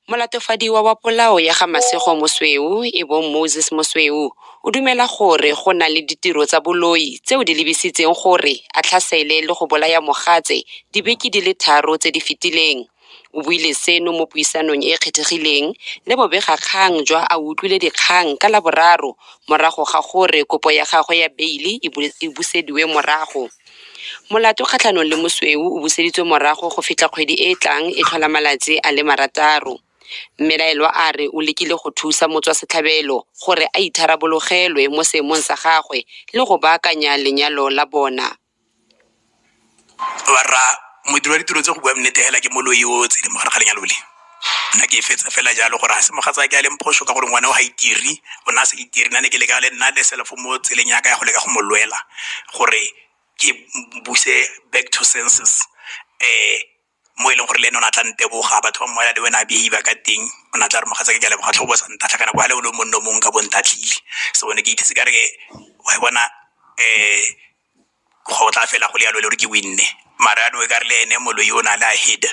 Molatofadiwa wa polao ya ga Masego Mosweu e bong Moses Mosweu o dumela gore go na le ditiro tsa boloi tseo di lebisitseng gore a tlhasele le go bolaya mogatse dibeke di le tharo tse di fetileng. O buile seno mo puisanong e e kgethegileng le bobegakgang jwa A Utlwile Dikgang ka Laboraro morago ga gore kopo ya gagwe ya beile e busediwe morago. Molato kgatlhanong le mosweu o buseditswe morago go fitlha kgwedi e e tlang e tlhola malatsi a le marataro. Mmelaelwa a re o lekile go thusa motswasetlhabelo gore a itharabologelwe mo seemong sa gagwe le go baakanya lenyalo la bona. barra modiri wa ditiro tse go bua nnete hela ke moloi o tsene mo gare ga lenyalo le nna ke e fetsa fela jalo gore ga se mogatsa ke a leng phoso ka gore ngwana o ga itiri o ne a sa itiri nna ne ke leka le nna le selfo mo tseleng yaka ya go leka go mo lwela gore ke buse back to senses um mo e leng gore le ene o ne a tla nteboga batho ba mmoela le wena a behave ka teng o ne a tla re mogatsa ke ke a leboga tlhobo sa ntatlha kana kwa le o le monno mongwe ka bontatlhile so ne ke ithetse ka re ke wa bona um go tla fela go le yalo le gore ke winne mara ano e ka re le ene moloi o ne a le a head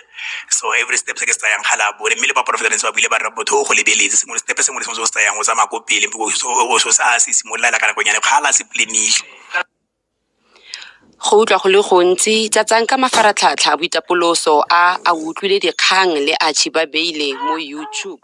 so every step se ke se tsayang ga la bone mme le baporofetanse ba buile ba rra botho o go lebeletse sengwe le stepe sengwe le sengwe se o se tsayang o tsamaya ko pele o se a se simololela ka nakonyane kgala se planile Go utlwa go le gontsi, tlatsang ka mafaratlhatlha a boitapoloso a A O Utlwile Dikgang le Archie Ba Beile mo YouTube.